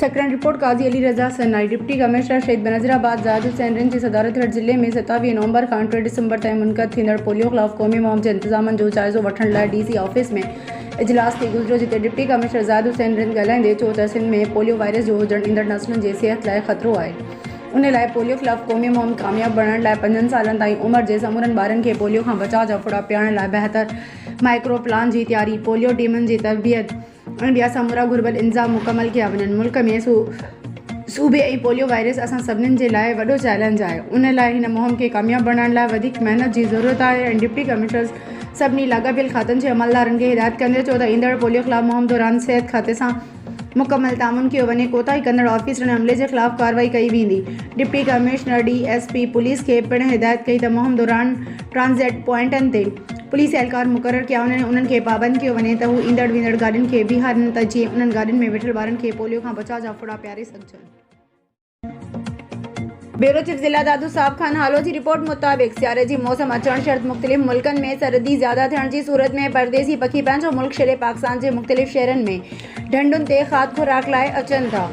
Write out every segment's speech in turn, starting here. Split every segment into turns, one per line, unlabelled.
سيڪرنڊ report, Qazi Ali Raza Sanai, deputy commissioner Shaheed Benazirabad Zahid Hussain Rind جي صدارت ھيٺ ضلعي ۾ ستاويهه نومبر کان ٽي ڊسمبر تائين منعقد ٿيندڙ پوليو خلاف قومي مھم جي انتظامن جو جائزو وٺڻ لاء ڊي سي آفيس ۾ اجلاس ٿي گذريو جتي ڊپٽي ڪمشنر زاھد حسين رند ڳالھائيندي چيو ته سنڌ ۾ پوليو وائرس جو ھجڻ ايندڙ نسلن جي صحت لاء خطرو آھي ان لاء پوليو خلاف قومي مھم ڪامياب بڻائڻ لاء پنجن سالن تائين عمر جي سمورن ٻارن کي پوليو کان بچاء جا ڦڙا پيارڻ لاء بهتر مائڪرو پلان جي تياري پوليو ٽيمن جي تربيت ان ٻيا سمورا گهربل انظام مڪمل ڪيا وڃن ملڪ ۾ صوبي ۽ پوليو وائرس اسان سڀنن جي لاء وڏو چئلينج آهي ان لاء هن مهم کي ڪامياب بڻائڻ لاء وڌيڪ محنت جي ضرورت آهي ۽ ڊپٽي ڪمشنرز سڀني لاڳاپيل کاتن جي عملدارن کي هدايت ڪندي چيو ته ايندڙ پوليو خلاف مهم دوران صحت کاتي سان مڪمل تعاون ڪيو وڃي ڪوتاهي ڪندڙ آفيسرن ۽ عملي جي خلاف ڪارروائي ڪئي ويندي deputy commissioner D S P police کي پڻ هدايت ڪئي ته مهم دوران ٽرانزٽ پوائنٽن تي پوليس اهلڪار مقرر ڪيا وڃن انهن کي پابند ڪيو وڃي ته هو ايندڙ ويندڙ گاڏين کي بيهارن ته جيئن انهن گاڏين ۾ ويٺل ٻارن کي پوليو کان بچاء جا ڦڙا پياري سگهجن. بيورو چيف ضلع دادو صاحب خان هالو جي رپورٽ مطابق سياري جي موسم اچڻ شرط مختلف ملڪن ۾ سرد ئي زياده ٿيڻ جي صورت ۾ پرديسي پکي پنهنجو ملڪ ڇڏي پاڪستان جي مختلف شهرن ۾ ڍنڍن تي کاڌ خوراڪ لاء اچن ٿا.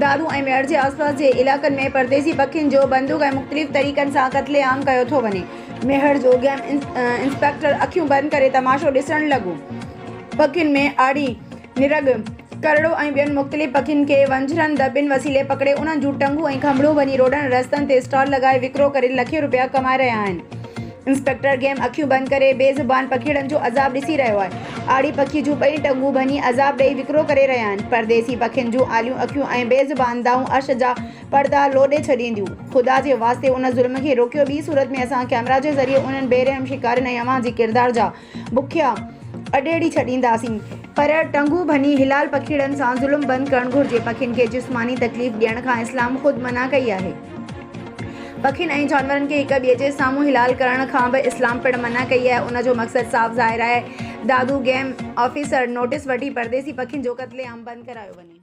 دادو ۽ ميهڙ جي آسپاس جي علائقن ۾ پرديسي پکين جو بندوق ۽ مختلف طريقن سان قتل عام ڪيو ٿو وڃي. ميهڙ جو گيم انسپيڪٽر اکيون بند ڪري تماشو ڏسڻ لڳو. پکين ۾ آڙي، نرڳ، ڪرڙو ۽ ٻين مختلف پکين کي ونجهرن، دٻين، وسيلي پڪڙي انهن جون ٽنگون ۽ کنڀڙون ڀڃي روڊن ۽ رستن تي اسٽال لڳائي وڪرو ڪري لکين روپيا ڪمائي رهيا آهن. انسپيڪٽر گيم اکيون بند ڪري بي زبان پکيئڙن جو عذاب ڏسي رهيو آهي. آڙي پکي جون ٻئي ٽنگون ڀڃي عذاب ڏئي وڪرو ڪري رهيا آهن. پرديسي پکين جون آليون اکيون ۽ بي زبان دانهون عرش جا پردا لوڏي ڇڏينديون. خدا جي واسطي ان ظلم کي روڪيو ٻي صورت ۾ اسان ڪئميرا جي ذريعي انهن بي رحم شڪارين ۽ اوهان جي ڪردار جا بکيا اڊيڙي ڇڏينداسين پر ٽنگون ڀڃي حلال پکيڙن سان ظلم بند ڪرڻ گهرجي پکين کي جسماني تڪليف ڏيڻ کان اسلام خود منع ڪئي آهي پکين ۽ جانورن کي هڪ ٻئي جي سامهون حلال ڪرڻ کان به اسلام پڻ منع ڪئي آهي ان جو مقصد صاف ظاهر آهي دادو گيم آفيسر نوٽس وٺي پرديسي پکين جو قتل عام بند ڪرايو وڃي.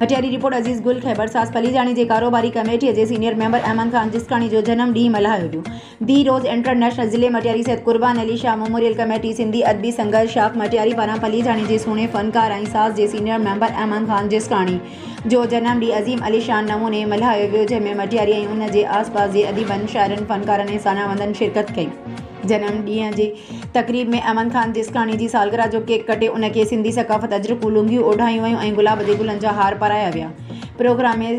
هيٺيان رپورٽ عزيز گل خيبرساز پليجاڻي جي ڪاروباري ڪميٽي جي سينيئر ميمبر احمد خان جسڪاڻي جو جنم ڏينهن ملهايو ويو دي روز انٽرنيشنل ضلعي مٽياري سيد قربان علي شاهه ميموريل ڪميٽي سنڌي ادبي سنگرش آف مٽياري پاران پليجاڻي جي سهڻي فنڪار ۽ ساز جي سينيئر ميمبر احمد خان جسڪاڻي جو جنم ڏينهن عظيم عليشان نموني ملهايو ويو جنهن ۾ مٽياري ۽ ان جي آس پاس جي اديبن شاعرن فنڪارن ۽ سانا وندن شرڪت ڪئي جنم ڏينهن جي تقريب ۾ احمد خان جسڪاڻي جي سالگرهه جو ڪيڪ ڪٽي ان کي سنڌي ثقافت اجرڪون لونگيون اوڍايون ويون ۽ گلاب جي گلن جا هار پرايا ويا پروگرام ۾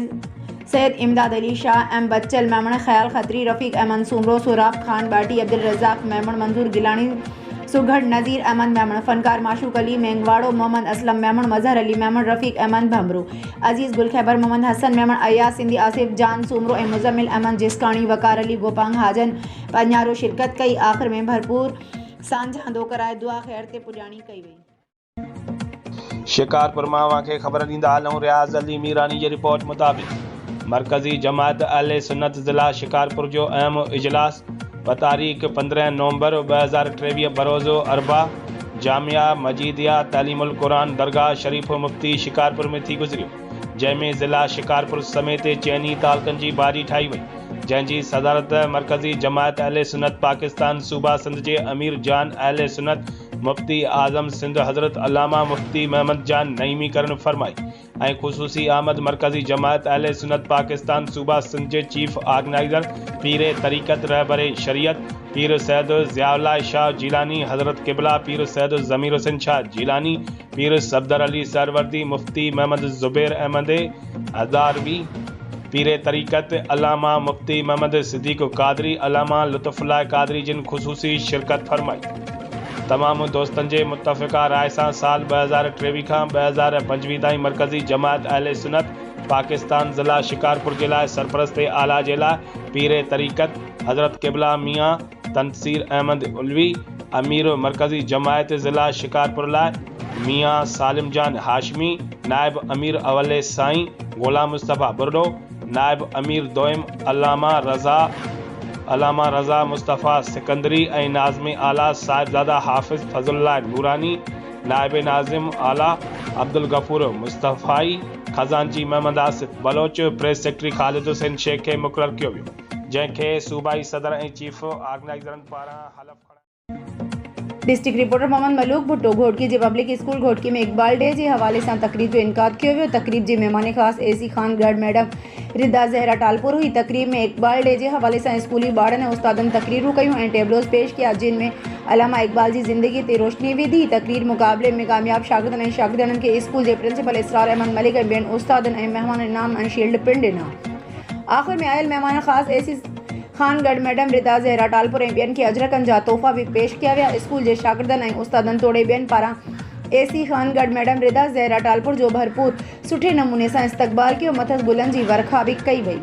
سيد امداد علي شاهه ايم بچل ميمڻ خيال کتري رفيق احمد سومرو سهراب خان ٻاٽي عبدالرزاق ميمڻ منظور گيلاڻي سگهڙ نظير احمد ميمڻ فنڪار معشوق علي مينگهواڙو محمد اسلم ميمڻ مظهر علي ميمڻ رفيق احمد ڀنڀرو عزيز گل خيبر محمد حسن ميمڻ اياز سنڌي آصف جان سومرو ۽ مزمل احمد جسڪاڻي وقار علي گوپانگ حاجن پنهارو شرڪت ڪئي آخر ۾ ڀرپور سانجهاندو ڪرائي دعا خير تي پڄاڻي ڪئي وئي. شڪارپور
مان اوهان کي خبر ڏيندا هلون رياض علي ميراڻي جي رپورٽ مطابق مرڪزي جماعت اهل سنت ضلع شڪارپور جو اهم اجلاس بتاريخ پندرهن نومبر ٻه هزار ٽيويهه بروز اربع جامعه مجيديه تعليم القرآن درگاهه شريف مفتي شڪارپور ۾ ٿي گذريو. جنهن ۾ ضلع شڪارپور سميت چئني تعلقن جي باڊي ٺاهي وئي، جنهن جي صدارت مرڪزي جماعت اهل سنت پاڪستان صوبه سنڌ جي امير جان اهل سنت مفتي اعظم سنڌ حضرت علامه مفتي محمد جان نعيمي ڪرڻ فرمائي ۽ خصوصي آمد مرڪزي جماعت اهل سنت پاڪستان صوبه سنڌ جي چيف آرگنائيزر پير طريقت رهبر شريعت پير سيد ضياء الله شاهه جيلاني حضرت قبله پير سيد ضمير حسين شاهه جيلاني پير صفدر علي سهروردي، مفتي محمد زبير احمد هزاروي، پير طريقت علامه مفتي محمد صديق قادري، علامه لطف الله قادري جن خصوصي شرڪت فرمائي. تمام دوستن جي متفقه راء سان سال ٻه هزار ٽيويهه کان ٻه هزار پنجويهه تائين مرڪزي جماعت اهل سنت پاڪستان ضلع شڪارپور جي لاء سرپرست اعليٰ جي لاء پير طريقت حضرت قبله ميان تنصير احمد علوي امير مرڪزي جماعت ضلع شڪارپور لاء، ميان سالم جان هاشمي نائب امير اولي سائين غلام مصطفي ٻرڙو، نائب امير دوئم علامه رضا علامه رضا مصطفي سڪندري ۽ ناظم اعليٰ صاحبزاده حافظ فضل الله نوراني، نائب ناظم اعليٰ عبدالغفور مصطفائي، خزانچي محمد آصف بلوچ، پريس سيڪريٽري خالد حسين شيخ کي مقرر ڪيو ويو. جنهن کي صوبائي صدر ۽ چيف آرگنائيزرن پاران حلف کڻائي. ڊسٽرڪٽ
رپورٽر محمد ملوڪ ڀٽو گهوٽڪي جي public school Ghotki ۾ Iqbal day جي حوالي سان تقريب جو انعقاد ڪيو ويو تقريب جي مهمان خاص A C Khangarh madam Rida Zehra Talpur هئي تقريب ۾ اقبال ڊي جي حوالي سان اسڪولي ٻارن ۽ استادن تقريرون ڪيون ۽ ٽيبلوز پيش ڪيا جن ۾ علامه اقبال جي زندگي تي روشني وڌي تقرير مقابلي ۾ ڪامياب شاگردن ۽ شاگرياڻين کي اسڪول جي پرنسپل اسرار احمد ملڪ ۽ ٻين استادن ۽ مهمانن انعام ۽ شيلڊ پڻ ڏنا. آخر ۾ آيل مهمانن خاص اي سي خان گڏ ميڊم ردا زهرا ٽالپر ۽ ٻين کي اجرڪن جا تحفا به پيش ڪيا ويا اسڪول جي شاگردن ۽ استادن توڙي ٻين پاران اي سي خان گڏ ميڊم ردا زهرا ٽالپر جو ڀرپور سٺي نموني سان استقبال ڪيو مٿس گلن جي ورکا به ڪئي وئي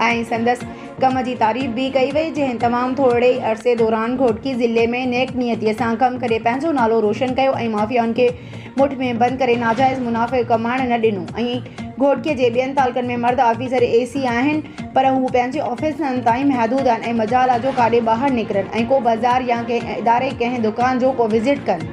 ۽ سندس ڪم جي تعريف به ڪئي وئي جنهن تمام ٿورڙي ئي عرصي دوران گهوٽڪي ضلعي ۾ نيڪ نيتي سان ڪم ڪري پنهنجو نالو روشن ڪيو ۽ مافيائن کي مٺ ۾ بند ڪري ناجائز منافع ڪمائڻ نه ڏنو ۽ گهوٽڪي جي ٻين تعلقن ۾ مرد آفيسر اي سي آهن پر هو پنهنجي آفيسن تائين محدود آهن ۽ مجال آهي جو ڪاڏي ٻاهر نڪرن ۽ ڪو بازار يا ڪنهن اداري ڪنهن دڪان جو ڪو وزٽ ڪن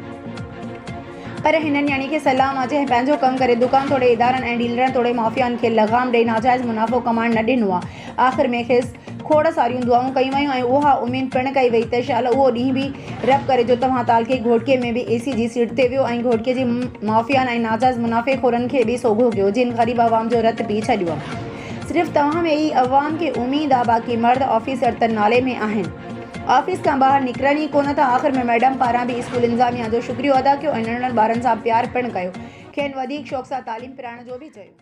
پر هنن يعني کي سلام آهي جنهن پنهنجو ڪم ڪري دڪان توڙي ادارن ۽ ڊيلرن توڙي مافيائن کي لغام ڏئي ناجائز منافعو ڪمائڻ نه ڏنو آهي. آخر ۾ کيس کوڙ ساريون دعائون ڪيون ويون ۽ اها اميد پڻ ڪئي وئي ته شالا اهو ڏينهن به رب ڪري جو توهان تعلقي گهوٽڪي ۾ به اي سي جي سيٽ تي ويهو ۽ گهوٽڪي جي مافيائن ۽ ناجائز منافعي خورن کي به سوگهو ڪيو جن غريب عوام جو رت پي ڇڏيو. صرف توهان ۾ ئي عوام کي اميد آ باقي مرد آفيسر ته نالي ۾ آهن آفيس کان ٻاهر نڪرن ئي ڪونه ٿا آخر ۾ ميڊم پاران به اسڪول انتظاميا جو شڪريو ادا ڪيو ۽ ننڍڙن ٻارن سان پيار پڻ ڪيو کين وڌيڪ شوق سان تعليم پرائڻ جو به چيو.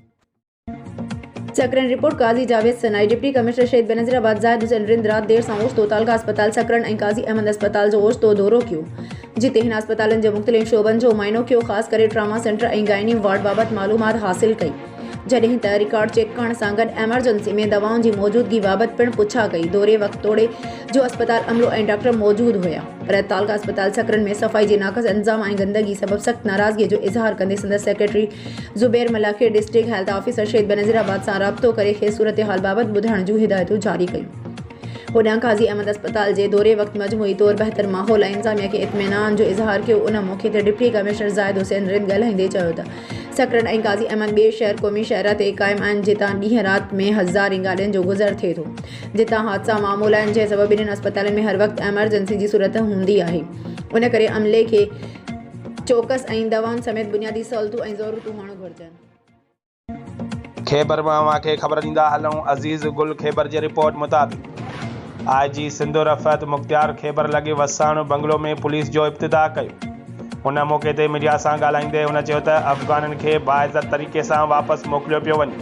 Sakrand, report, Qazi Javed Sanai, deputy commissioner Shaheed Benazir آباد زاهد حسين رند رات دير سان اوچتو تعلقه اسپتال سکرن ۽ قاضي احمد اسپتال جو اوچتو دورو ڪيو، جتي هن اسپتالن جي مختلف شعبن جو معائنو ڪيو، خاص ڪري ٽراما سينٽر ۽ گائني وارڊ بابت معلومات حاصل ڪئي، جڏهن ته رڪارڊ چيڪ ڪرڻ سان گڏ ايمرجنسي ۾ دوائن جي موجودگي بابت پڻ پڇا ڪئي، دوري وقت توڙي جو اسپتال عملو ۽ ڊاڪٽر موجود هيا، پر تعلقه اسپتال سکرن ۾ صفائي جي ناقص انتظام ۽ گندگي سبب سخت ناراضگي جو اظهار ڪندي سندس سيڪريٽري زبير ملاح کي district health officer Shaheed Benazir آباد سان رابطو ڪري کيس صورتحال بابت ٻڌائڻ جون هدايتون جاري ڪيون. هوڏانهن قاضي احمد اسپتال جي دوري وقت مجموعي طور بهتر ماحول ۽ انتظاميه کي اطمينان جو اظهار ڪيو ان موقعي تي ڊپٽي ڪمشنر زاهد حسين رند ڳالهائيندي چيو ته سکرن ۽ قاضي احمد ٻئي شهر قومي شاهراهه تي قائم آهن جتان ڏينهن رات ۾ هزارين گاڏين جو گذر ٿئي ٿو جتان حادثا معمول آهن جنهن سبب انهن اسپتالن ۾ هر وقت ايمرجنسي جي صورت هوندي آهي ان ڪري عملي کي چوڪس ۽ دوائن سميت بنيادي سهولتون ۽ ضرورتون هئڻ گهرجن. خيبر مان اوهان کي خبر
ڏيندا هلون عزيز گل خيبر جي رپورٽ مطابق آء جي سنڌ رفعت مختيار خيبر لڳي وساڻ بنگلو ۾ پوليس جو افتتاح ڪيو ان موقعي تي ميڊيا سان ڳالهائيندي هن چيو ته افغانن کي باعزت طريقي سان واپس موڪليو پيو وڃي.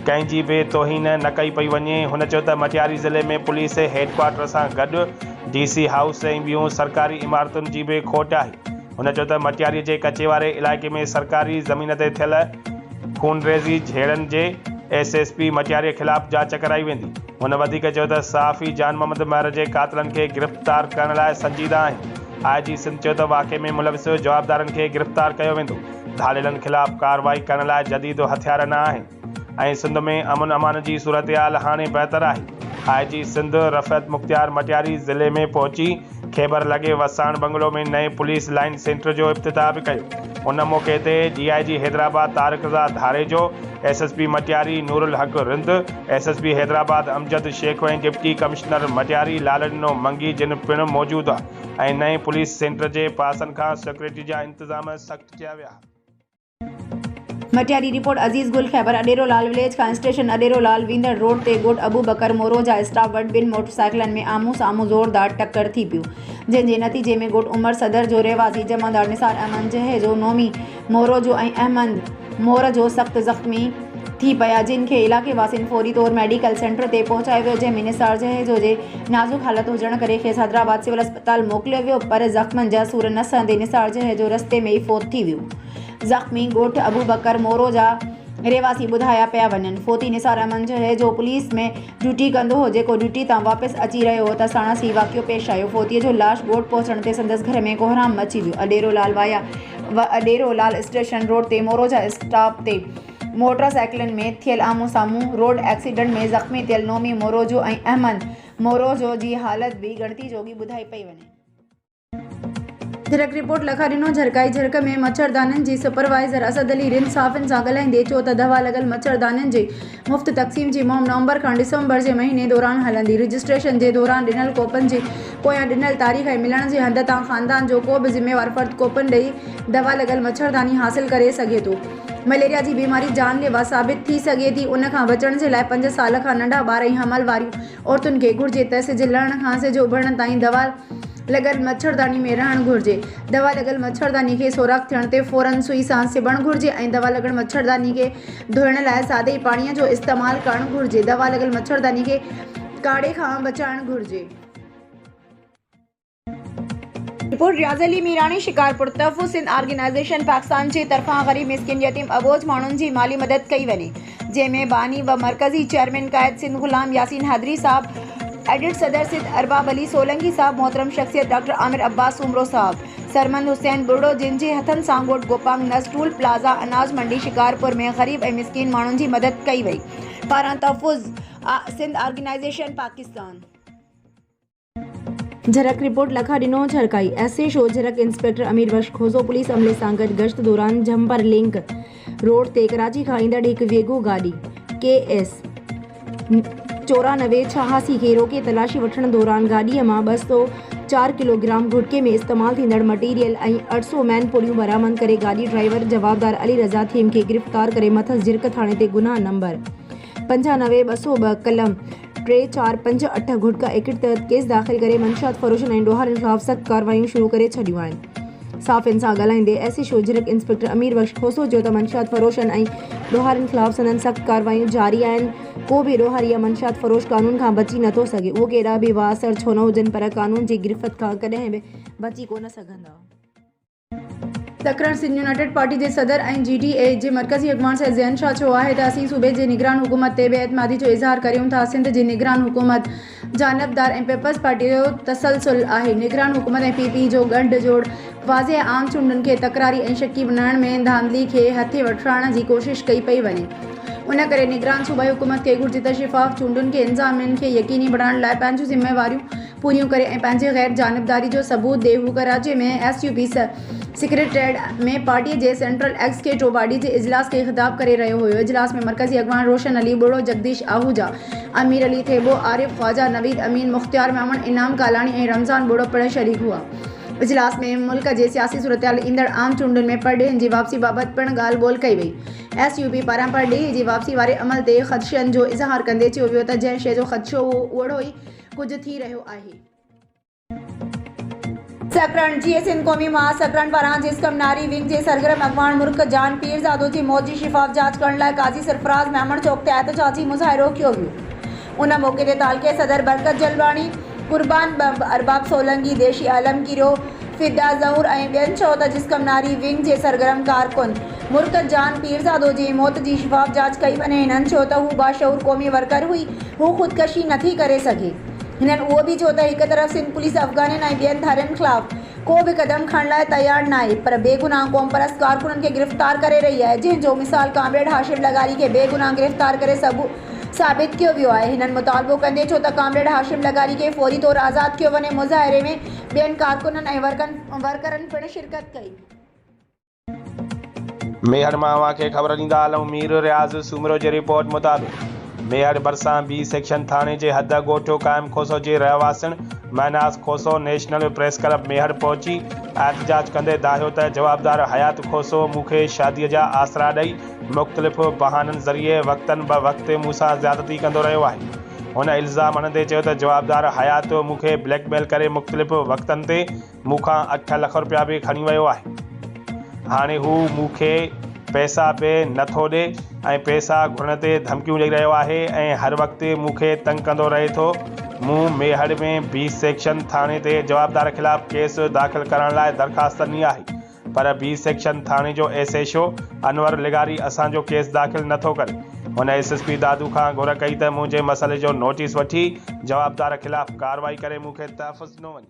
ڪنهن جي به توهين نه ڪئي پئي وڃي. هن چيو ته مٽياري ضلعي ۾ پوليس هيڊڪوارٽر سان گڏ ڊي سي هائوس ۽ ٻيون سرڪاري عمارتن جي به کوٽ آهي. هن چيو ته مٽياري جي ڪچي واري علائقي ۾ سرڪاري زمين تي ٿيل خونريزي جهيڙن جي ايس ايس پي مٽياري خلاف جاچ ڪرائي ويندي. هن وڌيڪ چيو ته صحافي جان محمد مهر جي قاتلن کي گرفتار ڪرڻ لاء سنجيده آهن. آء جي سنڌ چيو ته واقعي ۾ ملوث جوابدارن کي گرفتار ڪيو ويندو. ڌاڙيلن خلاف ڪارروائي ڪرڻ لاء جديد هٿيار نه آهن ۽ سنڌ ۾ امن امان جي صورتحال هاڻي بهتر آهي، آء جي سنڌ رفعت مختيار مٽياري ضلعي ۾ پهچي کيبر لڳي وساڻ بنگلو ۾ نئين پوليس لائين سينٽر جو افتتاح به ڪيو، ان موقعي تي D I G Hyderabad Tariq Raza Dharejo, S S P Matiari Noorulhaq Rind, S S P Hyderabad Amjad Shaikh ۽ deputy commissioner Matiari Laldino Mangi جن پڻ موجود هئا ۽ نئين پوليس سينٽر جي پاسن کان سيڪيورٽي جا انتظام سخت ڪيا
ويا. مٽياري، رپورٽ، عزيز گل خيبر، اڏيرو لال وليج کان اسٽيشن اڏيرو لال ويندڙ روڊ تي ڳوٺ ابو بڪر مورو جا اسٽاف وٽ ٻن موٽر سائيڪلن ۾ آمهون سامهون زوردار ٽڪر ٿي پيو جنهن جي نتيجي ۾ ڳوٺ عمر صدر جو رهواسي جمعدار نثار احمد جهيجو نومي مورو جو ۽ احمد مور جو سخت زخمي ٿي پيا جن کي علائقي واسين فوري طور ميڊيڪل سينٽر تي پهچايو ويو جنهن ۾ نثار جهيجو جي نازڪ حالت هجڻ ڪري کيس حيدرآباد سول اسپتال موڪليو ويو پر زخمن جا سور نه سهندي نثار جهيجو رستي ۾ ئي فوت ٿي ويو زخمي ڳوٺ ابوبڪر مورو جا رهواسي ٻڌايا پيا وڃن فوتي نثار احمد جهيجو پوليس ۾ ڊيوٽي ڪندو هو جيڪو ڊيوٽي تان واپس اچي رهيو هو ته ساڻس هي واقعو پيش آيو فوتي جو لاش ڳوٺ پهچڻ تي سندس گهر ۾ ڪوهرام مچي ويو اڏيرو لالوايا وڏيرولال اسٽيشن روڊ تي موروجا اسٽاپ تي موٽر سائيڪلن ۾ ٿيل آمهون سامهون روڊ ايڪسيڊنٽ ۾ زخمي ٿيل نومي موروجو ۽ احمد موروجو جي حالت به ڳڻتي جوڳي ٻڌائي پئي وڃي. جرڪ رپورٽ لکا ڏنو جرڪائي جرڪ ۾ مڇردانين جي سپروائيزر اسد علي رند صحافين سان ڳالهائيندي چيو ته دوا لڳل مڇردانين جي مفت تقسيم جي مهم نومبر کان ڊسمبر جي مهيني دوران هلندي. رجسٽريشن جي دوران ڏنل ڪوپن جي پويان ڏنل تاريخ ۽ ملڻ جي هنڌ تان خاندان جو ڪو به ذميوار فرد ڪوپن ڏئي دوا لڳل مڇرداني حاصل ڪري سگهي ٿو. مليريا جي بيماري جان ليوا ثابت ٿي سگهي ٿي ان کان بچڻ جي لاء پنج سال کان ننڍا ٻار ۽ حمل واريون عورتن کي گهرجي ته سج لهڻ کان سج اڀرڻ تائين دوا لڳل مڇرداني ۾ رهڻ گهرجي. دوا لڳل مڇرداني کي سوراخ ٿيڻ تي فورن سوئي سان سبڻ گهرجي ۽ دوا لڳل مڇرداني کي. ڌوئڻ لاء سادي پاڻي جو استعمال ڪرڻ گهرجي. دوا لڳل مڇرداني کي ڪاڙهي کان بچائڻ گهرجي. رپورٽ، رياض علي ميراڻي، شڪارپور، تحفظ سنڌ آرگنائيزيشن پاڪستان جي طرفان غريب مسڪين يتيم اٻوجهه ماڻهن جي مالي مدد ڪئي وڃي جنهن ۾ باني و مرڪزي چيئرمين قائد سنڌ غلام ياسين حيدري صاحب ايڊٽ صدر سنڌ ارباب علي سولنگي صاحب محترم شخصيت ڊاڪٽر عامر عباس سومرو صاحب سرمد حسين ٻرڙو جن جي هٿن سان ڳوٺ گوپانگ نس ٽول پلازا اناج منڊي شڪارپور ۾ غريب ۽ مسڪين ماڻهن جي مدد ڪئي وئي. پاران تحفظ Sindh organisation Pakistan. Jhirk report Lakha Dino Jhirkai S H O Jhirk inspector Ameer Bux Khoso police عملي سان گڏ گشت دوران جھمپر لنڪ، روڊ تي ڪراچي کان ايندڙ هڪ ويگو گاڏي ڪي ايس چورانوي ڇهاسي کي روڪي تلاشي وٺڻ دوران گاڏي مان ٻه سؤ چار ڪلوگرام گهٽڪي ۾ استعمال ٿيندڙ مٽيريل ۽ اٺ سؤ مين پڙيون برآمد ڪري گاڏي ڊرائيور جوابدار علي رضا ٿهيم کي گرفتار ڪري مٿس جرڪ ٿاڻي تي گناهه نمبر پنجانوي ٻه سؤ ٻه قلم ٽي، چار، پنج، اٺ گهٽڪا ايڪٽ تحت ڪيس داخل ڪري منشيات فروشن ۽ ڏوهارين خلاف سخت ڪارروايون شروع ڪري ڇڏيون آهن. صحافين سان ڳالهائيندي S H O Jhirk inspector Ameer Bux Khoso چيو ته منشيات فروشن ۽ ڏوهارين خلاف سندن سخت ڪارروايون جاري آهن، ڪو به ڏوهاري يا منشيات فروش قانون کان بچي نه ٿو سگهي، اهو ڪيڏا به بااثر ڇو نه هجن پر قانون جي گرفت کان ڪڏهن به بچي ڪونه سگهندا. سکران سنڌ يونائيٽيڊ پارٽي جي صدر ۽ جي ڊي اي جي مرڪزي اڳواڻ سيد زين شاهه چيو آهي ته اسين صوبي جي نگران حڪومت تي بي اعتمادي جو اظهار ڪريون ٿا سنڌ جي نگران حڪومت جانبدار ۽ پيپلز پارٽي جو تسلسل آهي نگران حڪومت ۽ پي پي جو ڳنڍ جوڙ واضح ۽ عام چونڊن کي تڪراري ۽ شڪي بڻائڻ ۾ ڌانڌلي کي هٿي وٺرائڻ جي ڪوشش ڪئي پئي وڃي ان ڪري نگران صوبائي حڪومت کي گهرجي ته شفاف چونڊن کي انتظامين کي يقيني بڻائڻ لاء پنهنجون ذميواريون پوريون ڪري ۽ پنهنجي غير جانبداري جو ثبوت ڏئي هو Karachi ۾ S U P secretariat ۾ party جي سينٽرل ايگزيڪيٽو باڊي جي اجلاس کي خطاب ڪري رهيو هيو اجلاس ۾ مرڪزي اڳواڻ روشن علي ٻوڙو جڳديش آهوجا امير علي ٿيٻو عارف خواجا نويد امين مختيار ميمڻ انعام ڪالاڻي ۽ رمضان ٻوڙو پڻ شريڪ هئا اجلاس ۾ ملڪ جي سياسي صورتحال ايندڙ عام چونڊن ۾ پرڏيهين جي واپسي بابت پڻ ڳالهه ٻولهه ڪئي وئي ايس يو پي پاران پرڏيهي جي واپسي واري عمل تي خدشن جو اظهار ڪندي چيو ويو ته جنهن شيء جو خدشو هو اهڙو ئي ڪجهه ٿي رهيو آهي. سڪرنڊ، جيئي سنڌ قومي معاش سڪرنڊ پاران جسقم ناري ونگ جي سرگرم اڳواڻ مرڪ جان پيرزادو جي موت جي شفاف جاچ ڪرڻ لاء قاضي سرفراز ميمڻ چوڪ تي احتجاجي مظاهرو ڪيو ويو ان موقعي تي تعلقي صدر برڪت جلواڻي، قربان ٻنب، ارباب سولنگي، ديشي عالم ڪيرو، فدا زهور ۽ ٻين چيو ته جسقم ناري ونگ جي سرگرم ڪارڪن. مرڪز جان پيرزادو جي موت جي شفاف جاچ ڪئي وڃي هنن ڇو ته هو باشعور قومي ورڪر هئي هو خودڪشي نه ٿي ڪري سگهي هنن اهو به چيو ته هڪ طرف سنڌ پوليس افغانين ۽ ٻين ڌارين خلاف ڪو به قدم کڻڻ لاء تيار ناهي پر بيگناهه قومپرست ڪارڪنن کي گرفتار ڪري رهي آهي جنهن جو مثال ڪامريڊ هاشم لغاري کي بيگناهه گرفتار ڪري ثابت ڪيو ويو آهي هنن مطالبو ڪندي چيو ته ڪامريڊ هاشم لغاري کي فوري طور آزاد ڪيو وڃي مظاهري ۾ ٻين ڪارڪنن ۽ ورڪرن پڻ شرڪت ڪئي.
ميهڙ مان اوهان کي خبر ڏيندا هلون مير رياض سومرو جي رپورٽ مطابق ميهڙ ڀرسان بي سيڪشن ٿاڻي جي حد ڳوٺ قائم کوسو جي رهواسين Mahnaz Khoso national press club Mehar پهچي احتجاج ڪندي دانهيو ته جوابدار حيات کوسو مون کي شادي جا آسرا ڏئي مختلف بهانن ذريعي وقتن به وقت مون سان زيادتي ڪندو رهيو آهي هن الزام هڻندي چيو ته جوابدار حيات مون کي بليڪ ميل ڪري مختلف وقتن تي مون کان اٺ لک روپيا به کڻي ويو آهي. هاڻي هو مون کي پئسا به نه ٿو ڏي ۽ پئسا گهرڻ تي ڌمڪيون ڏئي رهيو آهي ۽ هر وقت مون کي تنگ ڪندو رهي ٿو. مون ميهڙ ۾ بي سيڪشن ٿاڻي تي جوابدار خلاف ڪيس داخل ڪرائڻ لاء درخواست ڏني آهي پر بي سيڪشن ٿاڻي جو ايس ايڇ او انور لغاري اسان جو ڪيس داخل نه ٿو ڪري. هن ايس ايس پي دادو کان گهر ڪئي ته منهنجي مسئلي جو نوٽيس وٺي جوابدار خلاف ڪارروائي ڪري مون کي تحفظ ڏنو وڃي.